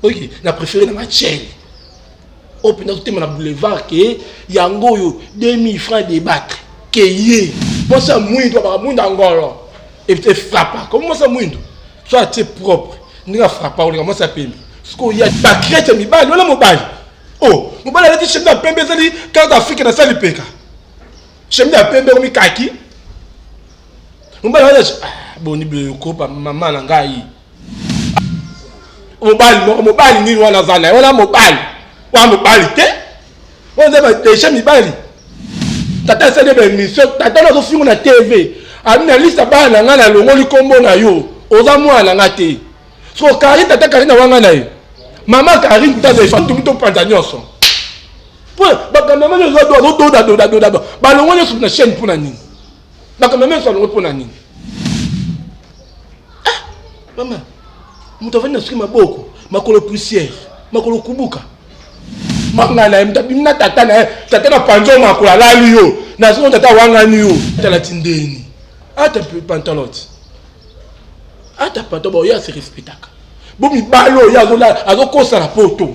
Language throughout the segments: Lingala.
oyoki na préféré nanga chaine oyo oh, mpenza totema na boulevard ke yango oyo 2000 francs debattre keye mposa ya mwindo abaka mwindo ya ngolo efrapa komi mwasi ya mwindo so atie propre ndenge afrapa olinga mwasi ya pembe sikoyo ya bakrete ya mibali wana mobali o oh, mobali alati chemine ya pembe ezali carte d'afrike na sali peka chemine ya pembe omi kaki mobali wana ah, boni bokopa mama na ngai mobali moko mobali nini wana aza na ye wana mobali wana mobali te oyo nde badeja mibali tata asali ye baemission tata na azofingo na tv abi na lista bana na ngai nalongoli nkombo na yo oza mwana na ngai te so karine tata karine awanga na ye mama karine tazefantumu topanza nyonso po bakambo yango nyonso azododadodadoda balongo nyonso na chaîne mpo na nini makambo menso alongo mpo na nini ah, mama moto avandi na soki maboko makolo poussière makolo kubuka manga na ye moto abimi na tata na ye tata na panzo makolo alali yo na soki tata awangani yo talati ndeni ata pantalote ata pantalon oyo asirespetaka bo mibali oyo azokosala poto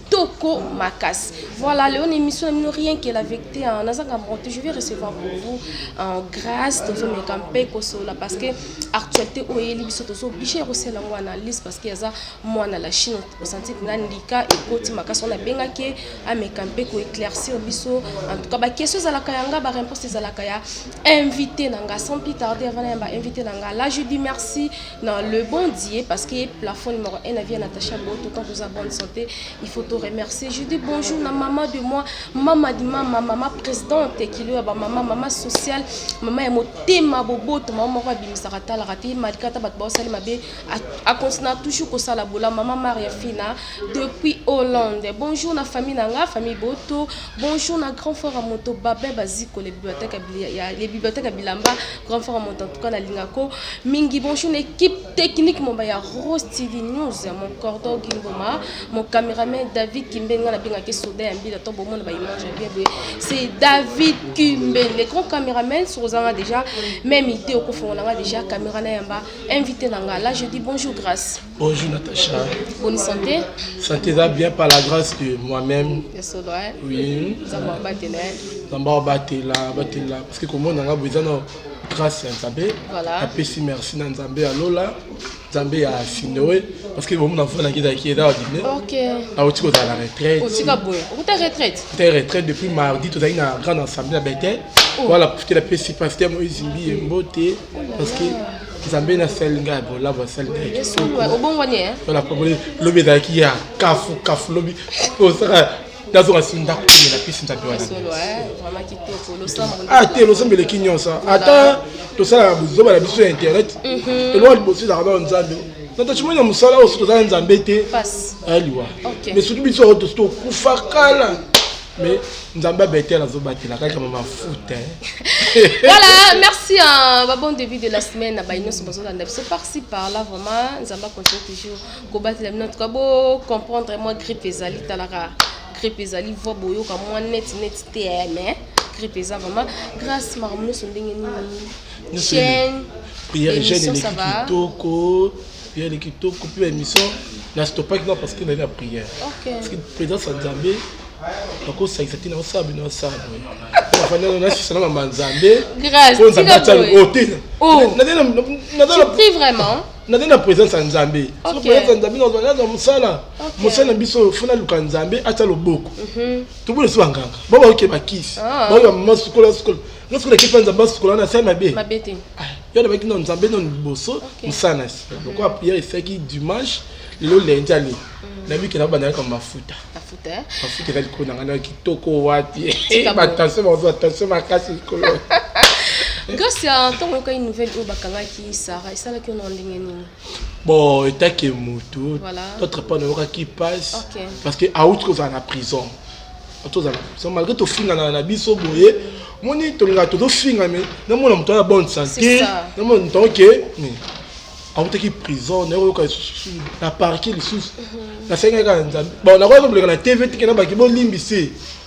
Toko Makas. Voilà, Léon émission na mino rien que la vérité hein. Naza ka monte, je vais recevoir pour vous en grâce tozo meka mpe kosola parce que actualité oyo yeli biso tozo obligé ya kosala ngo analyse parce que yaza mwana la Chine osanti kuna ndika ekoti makasi on abenga ke ameka mpe ko éclaircir biso en tout cas ba question ezalaka ya nga ba réponse ezalaka ya invité na nga sans plus tarder avant na ya ba invité na nga là je dis merci Na le bon Dieu parce que plafond numéro 1 na vie Natacha Boto quand vous avez bonne santé il faut te remercier je dis bonjour na maman de moi maman de maman maman présidente qui lui ba maman maman sociale maman ya motema boboto maman moko abimisaka talaka te malgré ata bato baosali mabe a continue toujours kosala bola maman Maria Fina depuis Hollande bonjour na famille na nga famille Boto Bonjour na grand frère moto Babin Baziko les bibliothèques ya les bibliothèques ya Bilamba grand frère moto en tout cas na linga ko mingi bonjour na équipe technique mon ya Rose TV News mon cordon Gimboma mon cameraman David Kimbenga na benga ke soda ya mbila to bomona ba image ya bien boye c'est David Kimben le grand cameraman sur ozanga déjà même idée okofongola nga déjà camera na yamba invité na nga là je dis bonjour grâce Bonjour Natacha. Bonne santé. Santé va bien par la grâce de moi-même. Oui. Zamba batela. Zamba batela, batela parce que comment on a besoin de grâce à Nzambe. Voilà. Apesi merci na Nzambe ya lola. Nzambe ya Sinoe parce que bomu na fona na kita kieda wa dine. OK. A otiko za la retraite. Otika boye. Okuta retraite. Ta retraite depuis mardi tozali na grande assemblée à Bethel. Oh. Voilà, profiter la pesi pasteur Moïse Mbi mbote parce que nzambe na asali ngai ya bolabo asali ngai obongwani eh? lobi ezalaki ya kafu kafu lobi osaka nazonga si ndako komela mpisi nzambe wana eh, ah, te losambo eleki nyonso ata tosalaka bozoba na biso ya internet mhm. elonga liboso ezalaka bao nzambe nata cimoni ya mosala oyo soki tozala nzambe te aliwa eh, mais soki biso tokufa kala Mais Nzamba Bethel azo batela kaka mama foot hein. voilà, merci à ma bon début de la semaine à Baïnos sur besoin d'un c'est par ci par là vraiment Nzamba continue toujours ko batela notre ka bo comprendre moi grippe ezali talara grippe ezali voix boyoka moi net net te eh, mais grippe eza vraiment grâce marmuno so ndenge nini chaîne prière jeune eleki kitoko prière ni kitoko mpe émission na stoppaki na parce que nali na prière parce que présence ya nzambe nakosangisa ntina osala bino asala boye afandana nasisa na mama nzambe oyo nzambe atya o te nazali na présence ya nzambe so présence ya nzambe nazwa mosala mosala na biso fo naluka nzambe atya loboko mhm. tobona esi banganga bao baoke bakisi ah. baoyo bamama sukola sukola nasukola ekipa nzambe asukola na asali mabe ah. yo alobaki no nzambe no liboso mosala na nsima lokola priere esilaki dimanche lelo lendi ale mm. nayebi ke nabanda yaka mafuta eh? mafuta eza likolo na ngai na kitoko wapi batension bakozwa tension makasi likolo grâce ya ntango oyokaki nouvelle oyo bakangaki sara esalaki yo na ndenge nini bon etake motu notre pas nayokaki passe parce que auti kozala na prison tozala prison malgré tofingana na biso boye moni tolingaka tozofinga me namona moto ya bonne santé namona moto yango ke autaki prison nayokoyoka lisusu na parke lisusu mhm. nasengaki kaka nzambe bon nakoyaka koleka na tv tike na baki bolimbisi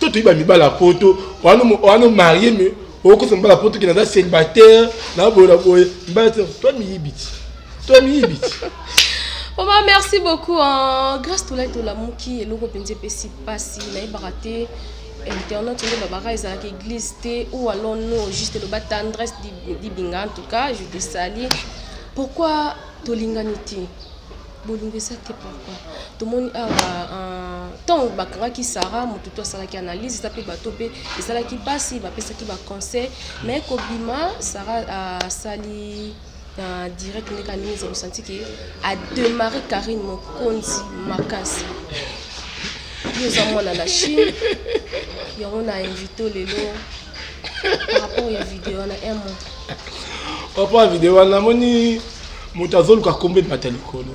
to toyiba mibala ya poto wana marie me okosa mibala ya poto kende aza célibataire na boye na boye mibala te to miyibi ti to miyibi ti Oma, merci beaucoup. Hein. Grâce à toi, la mouki, et l'eau, pensez, pessi, passi, la barate, internet, on est barra, ils ont église, ou alors non, juste le bas tendresse d'Ibinga, en tout cas, je te salue. Pourquoi Tolinganiti Bolingisa te pourquoi tomoni awa ntango bakangaki Sarah moto to asalaki analyse eza mpe bato mpe esalaki mpasi bapesaki ba conseil mais kobima Sarah asali na direct ndenge alingi eza bosanti ke ademare Karine mokonzi makasi yo oza mwana na Chine yango na invito lelo par rapport ya video wana un mot par rapport ya video wana namoni moto azoluka nkombo ebata likolo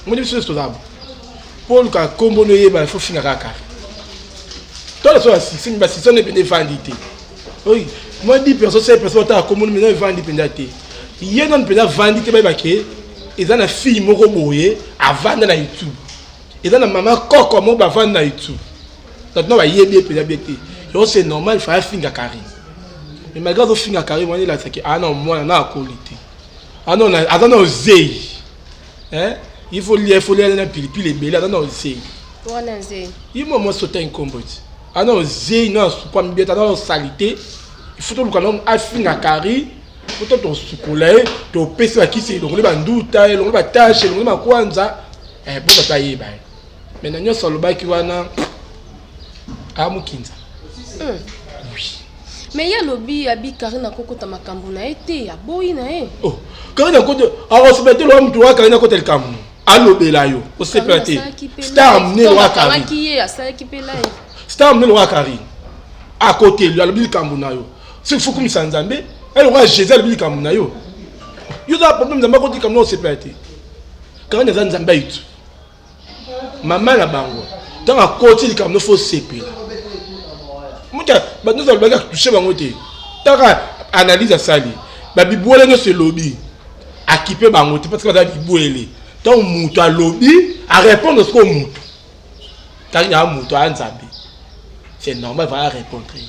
moni biso nyonso tozaba mpo oluka nkombo noyeba ifo finga kaka tole so basisini basisani mpenza efandi te oyi mwa di perso se perso otala nkombo mpenza efandi mpenza te ye nani mpenza afandi te bayebake eza na fille moko boye avanda na youtube eza na mama koko mo bavandi na youtube bato na bayebi ye mpenza bie te yango c'est normal faya finga carine mais malgré azofinga carine wana elasaki aa na mwana na akoli te aza na ozei il faut lia il faut lia na pilipili ebele aza na ozei ye mwa mwasi ota nkombo ti aza na ozei na asupa mibeta aza na salite il faut toluka na afinga carine poto tosukola ye topesi bakisi elongoli banduta elongoli batashe elongoli makwanza eh, bo tata ayeba ye mai na nyonso alobaki wana amokinza hmm. me ye alobi abi karine akokota makambo na ye te aboyi na ye oh, karine akota akosepela te lowa moto wa karine akota likambo alobela yo osepela te star mnene wa karine star mnene wa karine akoteli alobi likambo na yo soki fo kumisa nzambe ya lokola jésus alobi likambo na yo yo oza problème nzambe akoti likambo na osepela te kani aza nzambe ayitu mama na bango ntango akoti likambo no fo osepela moto bato nyonso alobaki atushe bango te taka analyse asali babibwele nyonso elobi akipe bango te parce que baza bibwele ntango moto alobi arépondre sikoyo moto kani aa moto aa nzambe c'est normal vala répondre ye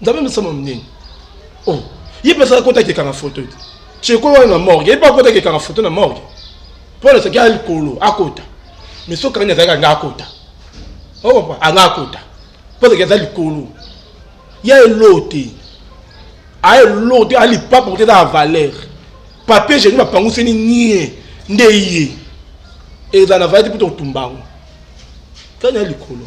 nzambe misama minene oh ye mpe asala kotaki ekanga foto ete cheko wana na morgue ye mpe akotaki ekanga foto na morgue mpo na soki ya likolo akota mais soki kani azalaki anga akota okompa anga akota mpo azalaki aza likolo ya elo te aye elo te alipa porte eza ya valeur papier geni bapanguseni nie nde ye ezala na valeur te mpo tokotumba yango kani ya likolo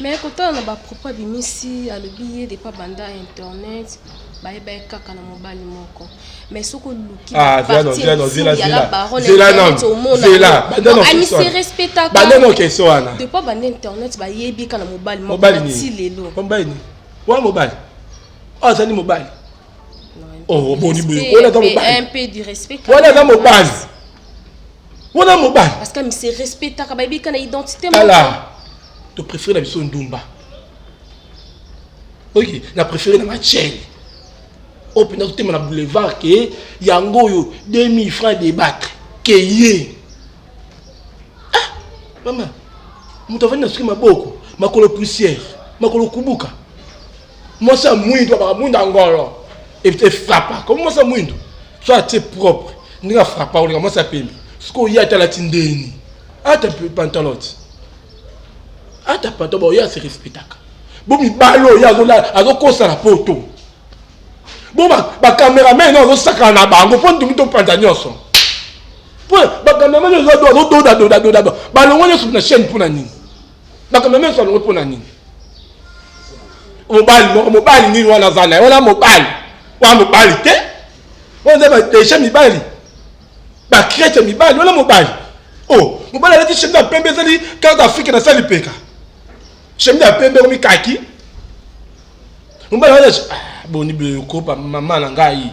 Mais kotala na ba propos abimisi alobi ye depuis abanda internet bayeba ye kaka na mobali moko mais soki oluki Ah, zela non, zela non, zela, ya la zela. baronne Zela non, internet omona zela. yango. Banda Donc, non, ami question se wana. respectaka Banda non, question wana. depuis abanda internet bayebi ye kaka na mobali moko mobali na ti nini lelo Mpo mobali nini wana mobali oyo azali mobali Oh, boni boye wana eza mobali wana eza mobali wana mobali parce que mise respectaka bayebi ka na identité tala to préféré na biso ndumba oye na préféré na machele oyo mpenza totema na boulevard ke yango oyo 2000 francs débattre ke ye ah mama moto avandi na soki maboko makolo poussière makolo kubuka mwasi ya mwindu abaka mwindu ya ngolo efrapa komi mwasi ya mwindu so atie propre ndenge afrapa koleka mwasi ya pembe soki oye ata alati ndeni ata pantalote ata pantalo baoye ase respectaka bo mibali oyo azokosana poto bo bacameraman oyo azosakana na bango mpo ndimi topanza nyonso mpo bacameraman oyo azododadodadoda balongo nyonso na chaîne mpo na nini makambo menso alongo mpo na nini mobali moko mobali nini wana aza na ye wana mobali wana mobali te wana eza badesha mibali bakrete mibali wana mobali o oh, mobali alati shembe ya pembe ezali kaka afrike na sali peka shembe ya pembe ekomi kaki mobali wana ah, boni bokopa mama na ngai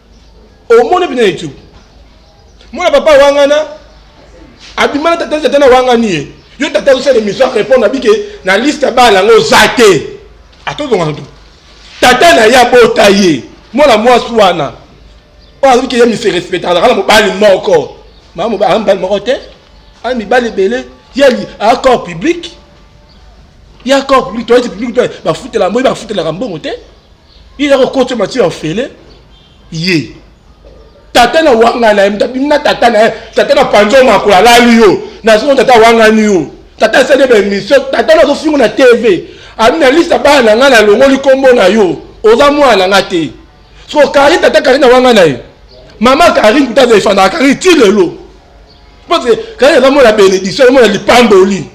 omoni bina youtube mwana papa wangana abima na tata tata na wangani ye yo tata osala émission arépondre abike na liste ya bana yango oza te atozonga ntu tata na ye abota ye mwana mwasi wana oyo azaliki ye miserespectaka azalaka na mobali moko maa mobali moko te ana mibali ebele ye accord public ye accord public toyeti public bafutela moi bafutelaka mbongo te ye yako koti mati ya ofele ye tata na wanga na ye mtabimi na tata na ye tata na panzo makolo alali yo nazongo tata awangani yo tata asali ye baemission tata na azofingo na tv abi na lista bana na ngai nalongoli nkombo na yo oza mwana na ngai te so karine tata karine awanga na ye mama karine kuta aza efandaka karine ti lelo parce karine azamona benediction azamona lipamboli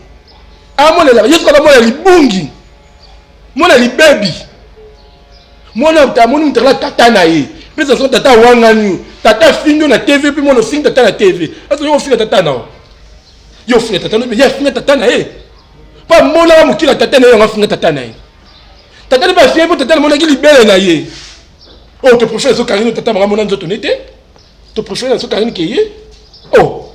amonelaka yesu azamona libungi mwana libebi mwana amoni mutala tata na ye mpe zazo tata awangani yo tata afingi yo na tv mpe mwana ofingi tata na tv azo yo ofinga tata na yo yo ofinga tata na ye afinga tata na ye mpo amonaka mokila tata na ye yango afinga tata na ye tata na bafie mpo tata namonaki libele na ye oyo oh, toprofere azokangi no tata maka mona nzoto ne te toprofere azokangi ke ye o oh.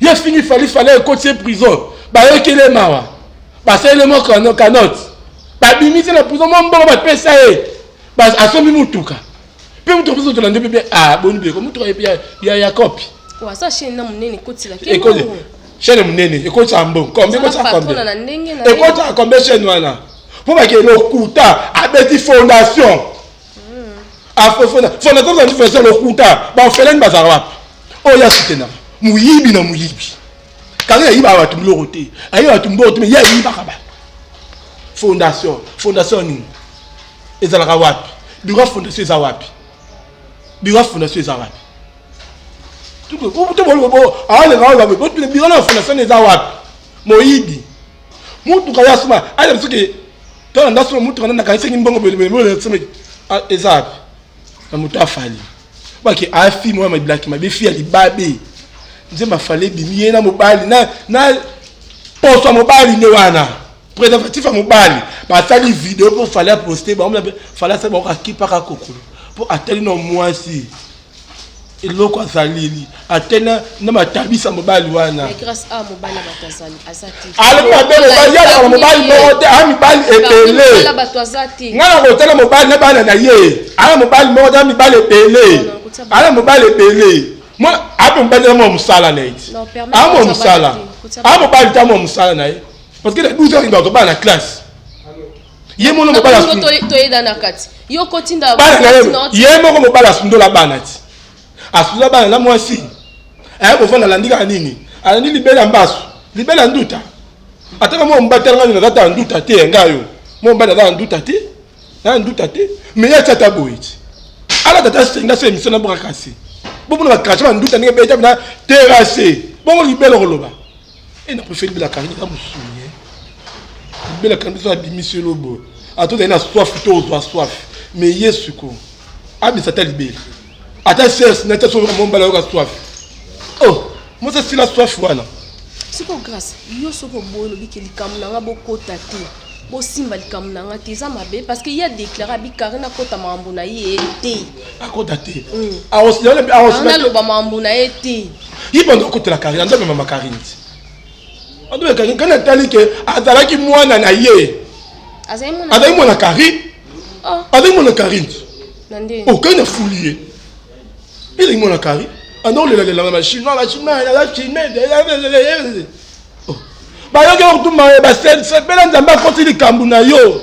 ye afingi fali fali ekoti ye prison bayokeli ye mawa basali le moko no canote babimi te na prison mwa mbongo bapesa ye asombi motuka mpe motuka mpe zotolande mpe mpe ah, boni bileko motuka ya yakopi waza chaine na monene ekotila ekoti chaine monene ekotisa mbongo kombe ekotisa kombe ekotisa kombe chaine wana mpo bake lokuta abeti fondation fonakota nifesa lokuta baofelani bazala wapi oyo ya sitena moyibi na moyibi kanga yayibaka bato biloko te ayiba bato biloko te me ye ayibaka bato fondation fondation nini ezalaka wapi biro ya fondation eza wapi biro ya fondation eza wapi biro na fondation eza wapi moyibi mutuka ya sima aya msuki tala nda sima mutuka nanda kanisa kimbongo bele sima eza wapi na moto afali baki afi moya mabilaki mabe fi ya libabe nzemba afali ebimi ye na mobali na na poso ya mobali nde wana préservatif ya mobali basali video mpo fali aposte bango fali asali bango kakipaka kokolo mpo atali na mwasi eloko azaleli ate na matabisa mobali wana alobi mabe mobali yazala mobali moko te aa mibali ebele ngai nakotala mobali na bana na ye aa mobali moko te a mibali ebele aa mobali ebele ape mobali na mwa mosala na ye ti aa mwa mosala aa mobali te a mwa mosala na ye parce que na 12 heures akobana na classe ye mono mobala toyeda na kati yo kotinda ye moko mobala asundola bana ti asundola bana na mwasi aye kofanda alandi kaka nini alandi libela mbasu libela nduta ataka mwa mobali tala ngai nazata ya nduta te ya ngai yo mwa mobali aza ya nduta te na nduta te me ye atia ata boye ti alata ata senga so emission na bokakasi bomona bakrache banduta ndenge beta na terase bongo libela okoloba Et na préfère bela kangi na musuni. Eh. Bela kangi so abimi se lobo. Ato zali na soif to ozwa soif. Mais Yesu ko. Abi sata libela. Ata sers na taso mo mbala yo ka soif. Oh, moi ça c'est la soif wana. Siko grâce, yo soko boyo lobi ke likambo na nga bokota te. Bosimba likambo na nga te eza mabe parce que ye a déclaré abi Karina kota makambo na ye te. akota te aosnaloba mambo na ye te ye bando akotela karine ando amema makarine te ando amema karine kani atali ke azalaki mwana na ye azalaki mwana karine oh. azalaki mwana karine okani oh, afuli ye ezalaki mwana karine ando olelalela na bachinois bachinois naza chinois bayoki okutumba ye basepela nzambe akoti likambo na yo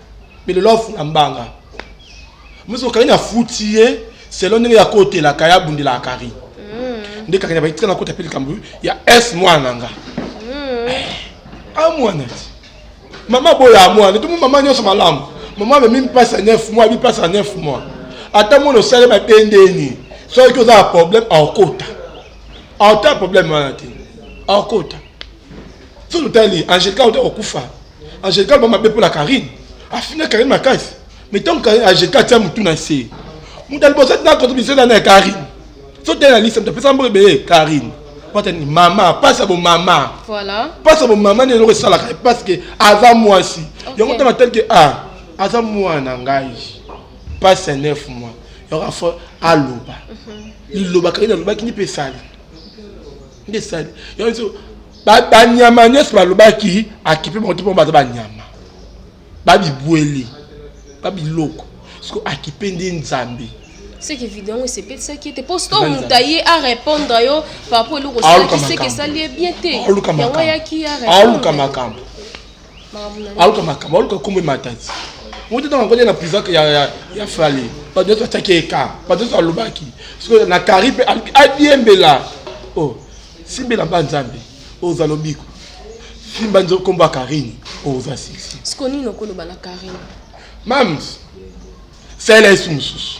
mais lelo afula mbanga mosi okarine afuti ye selo ndenge ya kotelaka ya bundela akari hmm. nde kakanya batika na kota mpe likambo ya s mwana na nga hmm. eh, a mwana ti mama boya mwana tomo mama nyonso malamu mama amemi mpasi ya 9 mois abi mpasi ya 9 mois ata mwana osali mabendeni soki oza na problème aokota aota problème wana te aokota soki otali angelica ota kokufa Angelica ba mabe pona Karine. Afina Karine makasi. Mais tant que Angelica tia mutu na se. Mutu alibosa tina contribution na Karine. So tena lisa mutu pesa mboka be Karine. Pata ni mama, pasa bo mama. Voilà. Pasa bo mama ne loko sala ka parce que aza mwasi. Okay. Yango tama tel que ah, aza mwana ngai. Passe 9 mois. Yoko fo aloba. Mm -hmm. Liloba Karine alobaki ni pesali. nde sali yango banyama nyonso balobaki akipe bango te mpo baza banyama babibweli babiloko siko akipe nde nzambe seke video yango esepelisaki ete mpo sito moto aye arépondre yo par rapport eloko osalaki seke esali ye bien te yango ayaki aoluka makambo aluka makambo aluka kombo ematati moto ntango akoli na prison ya fale bato nyonso batiaki eka bato nyonso alobaki sikoyo na kari mpe aluki adiembela o oh, simbela mba nzambe oza lobiko simba nzo kombo ya karine oza oh, sexy siko nini okoloba na karine mams salela yesu mosusu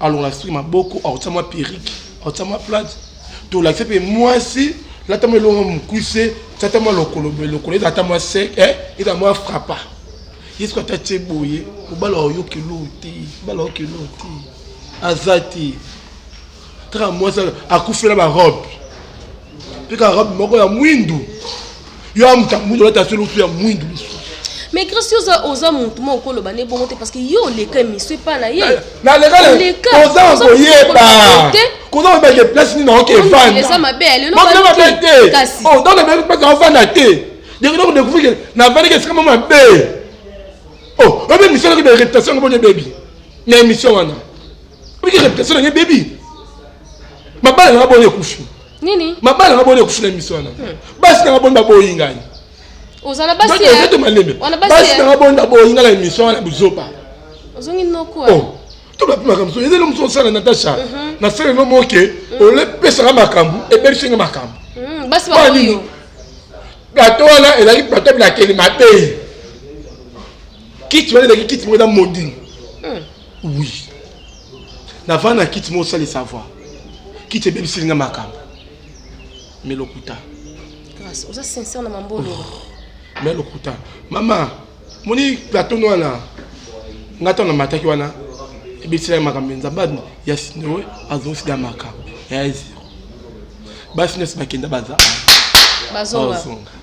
alongola suki maboko akotia mwa perike akotia mwa plate tolakisa mpe mwasi lata mwa elongo mokuse tata mwa lokolo boye lokolo eza ata mwa sek eh, eza mwa frapa ye soki ata tie boye mobala oyoki eloo te mobala oyoki eloo te aza te kaka mwasi akufela barobe Pika robe moko ya mwindu. Yo amuta mwindu lata solo lutu ya mwindu lisu. Mais Christ oza oza mutu moko koloba ne bongo te parce que yo leka misu epa na ye. Na leka leka. Oza ko yeba. Koza ko beke place ni na oke fana. Eza mabe lelo ba. Eza mabe te. Kasi. Oh donc na beke place na fana te. Deko deko découvrir que na fana ke sikama mabe. Oh, obe mission na ke réputation ko bonye baby. Na émission wana. Obe réputation na ke baby. mabala nanga boni ekufi nini mabala nanga boni ekufi na miso wana hmm. basi nanga boni baboyi ngai oza na basi ya ozoto malembe basi nanga boni baboyi ngai na emission wana buzoba ozongi noko oh, to bapi makambo so ezali mosu osala natasha mhm. nasala no moke mhm. olepesaka makambo ebelisi nga makambo mhm, basi baboyi plateau wana ezalaki plateau bilakeli mabe kiti wana ezalaki kiti moko eza modini Oui. Navanda kiti mo sali savoir. Kiti ebebisili nga makambo. Mais lokuta. Grâce, oza sincère na mambolo. Oh. Mais lokuta. Mama, moni plateau wana. Nga tana mataki wana. Ebebisili nga makambo nza bad ya sinoe azonsi da makambo. Ya zero. Basi nesi bakenda baza. Bazonga. Bazonga.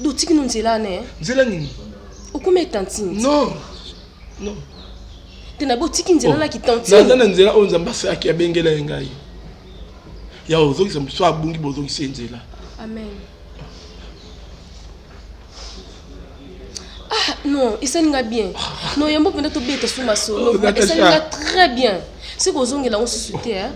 Do tiki no nzela ne. Nzela nini? Okoma tantine. Non. Non. Tena bo tiki nzela oh. na ki tantine. Naza na nzela oyo Nzambe asaki abengela ye ngai. Ya ozongisa mosusu abungi bozongisa ye nzela. Amen. Ah non, esali nga bien. Non, yambo mpenza tobeta suma solo. Esali nga très bien. Soki ozongela ngo susu te, hein.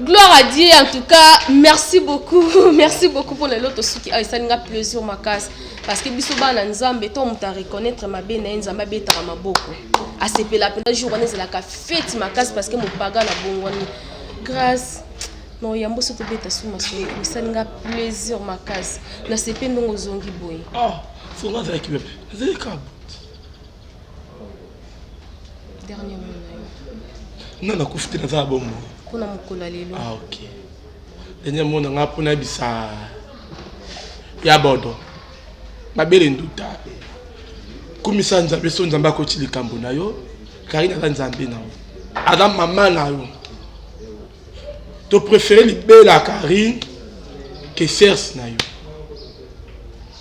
Gloire à Dieu en tout cas merci beaucoup merci beaucoup pour lelo tosuki awa esali nga plaisir makasi parce que biso bana nzambe to moto areconnaitre mabe na ye nzambe abetaka maboko asepela mpenza jour wana ezalaka feti makasi parce que mopaga na bongwani grâce na oyambo so tobeta su masolo esali nga plaisir makasi nasepe ndongo ozongi boye oh, dernier mot na yo nga nakufi te naza na bomoi mpona mokolo ya lelo ah, ok dernier mot na nga mpo nayebisa ya bodo mabele nduta kumisa nzambe so nzambe akoti likambo na yo karine aza nzambe na yo aza mama na yo to préféré libela karine que serse na yo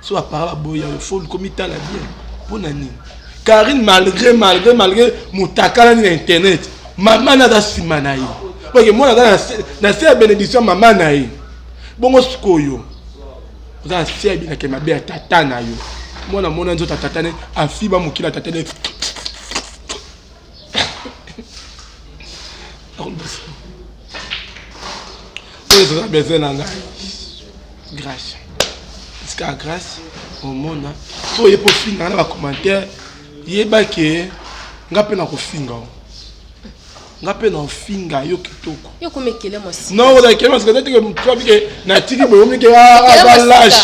so apara baboya yo fo luka omitala bien mpo na nini karine malgré malgré malgré motakalani na internet mama na aza nsima na ye oke mwana aza na se ya benediction ya mama na ye bongo sikoyo oza na se ya bilaka mabe ya tata na yo mwana mona nzoto atatane afiba mokili atatane oyo eza besoin na ngai grâce tika grâce omona po oye mpo ofingaka na bacommentaire yeba ke nga mpe nakofinga o nga mpe na ofinga yo kitoko naolakele masikazatike motu abike natiki boye omike aza lage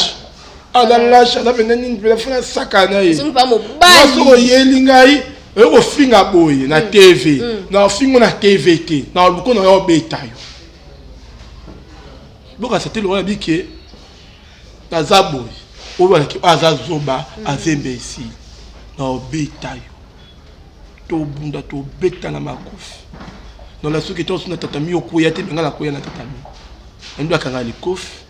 aza lage aza mpenza nini mpenza fona saka na ye soki oyeli ngai oyo kofinga boye na mm. tv mm. na ofingo na tv te na oluko na yo obeta yo bokasa te lokola bike naza boye oyo balaki oyo aza zoba mm. azembe esili na obeta yo tobunda tobeta na makofi nona soki tonso na tatami okoya te benga nakoya na tatami nando akanga likofi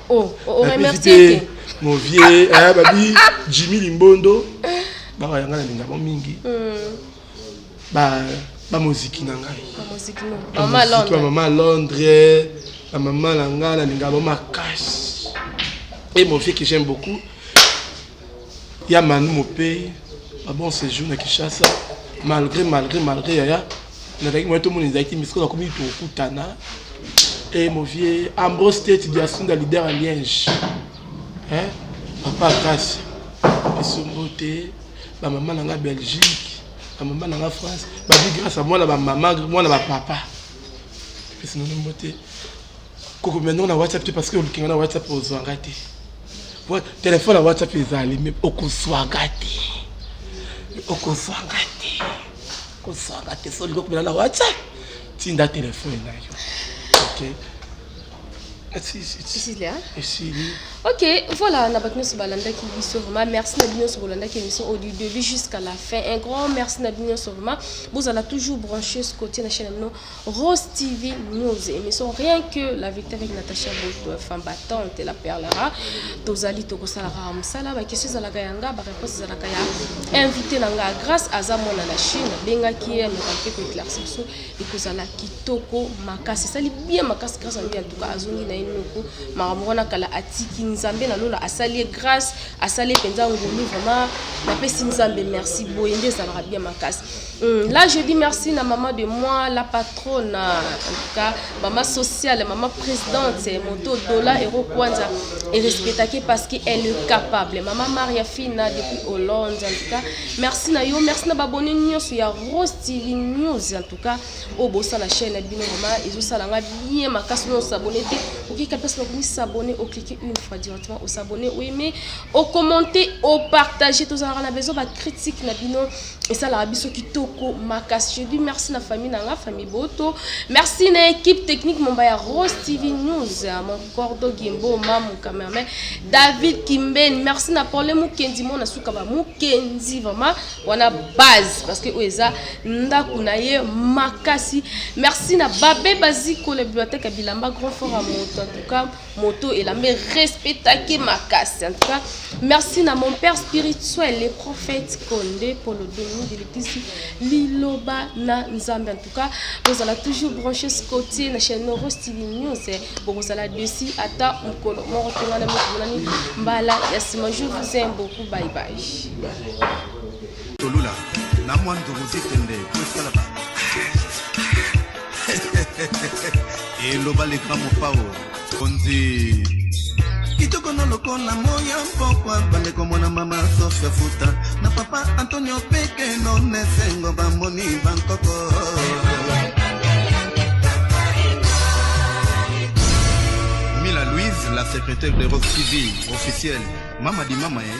Oh, oh, oh, Napizi Movie, eh, babi Jimmy Limbondo. Bawa yanga na linga mingi. Hmm. Ba ba muziki na ngai. Ba muziki no. Mama Londres. Mama Londres. La maman na ngai na linga ba makasi. Et mon vieux que j'aime beaucoup. Ya Manu Mopey, ba bon sejour na Kinshasa. Malgre, malgre, malgre yaya, nazalaki moyen tomona ezalaki mais sikoyo nakomi tokutana. Et eh, mon vieux Ambrose Tete Diasunda, leader à Liège. Hein? Papa Grace, Isongo te, ba maman na nga Belgique, ba maman na nga France, ba bi grâce à moi na ba maman, moi na ba papa. Pesi na mbote. kokobima ndongo na whatsapp te parce que oluki nga na whatsapp ozwa nga te telefone ya whatsapp ezali me okozwa nga te okozwa nga te okozwa nga te so olingi okobima na whatsapp tinda telefone na yo okay. ok voilà na bato nyonso balandaki biso vraiment merci na bino nyonso bolandaki émission au du début jusqu'à la fin un grand merci na bino nyonso vraiment bozala toujours branché scotie na chaîne ya bino Rose TV News emission rien que la vérité avec Natacha Boto femme battante la perle rare tozali tokosala kaka mosala ba question ezalaka ya nga ba réponse ezalaka ya invité na nga grâce aza mwana na Chine abengaki ye aloka mpe ko éclaircir biso ekozala kitoko makasi esali bien makasi grâce ayo en tout cas azongi na ye noko makambo wana kala atiki nzambe na lola asali ye grâce asali ye mpenza ngolu vraiment napesi nzambe merci boye nde ezalaka bien makasi Hum, là je dis merci na maman de moi la patronne en tout cas maman sociale maman présidente moto dola euro kwanza et respectaki parce que elle est capable maman Maria Fina depuis Hollande en tout cas merci na yo merci na babone nyonso ya Rostili News en tout cas au bossa la chaîne bino vraiment ezo sala nga bien makasi no s'abonner te oki ka place bakomi s'abonner au cliquer une fois directement au s'abonner oui mais au commenter au partager tous en a besoin ba critique na bino esalaka biso kitoko makasi je dis merci na famille na nga famille boto merci na équipe technique momba ya rose tv news mon cordo gimbo mamu cameraman david kimbeni merci na pole mokenzi mona suka ba mokenzi vraiment wana base parce que oyo eza ndako na ye makasi merci na babe bazikole biblioteke ya bilamba grand fort ya moto en tout cas moto elambe respect take makasi en tout cas merci na mon père spirituel le prophète konde polo domi de l'église liloba na nzambe en tout cas bozala toujours branché scotie na chaîne noro style news bokozala dessus ata mokolo moko te wana mikolani mbala ya nsima je vous aime beaucoup bye bye Tolula na mwa ndugu Zitende po esala ba eloba le grand mopao konzi kitoko na lokola moya mpokwa bandeko mwana mama sofia futa na papa antonio pekeno nesengo bamoni bankoko mila louise la secrétaire de rock tv officielle mama di mama eh.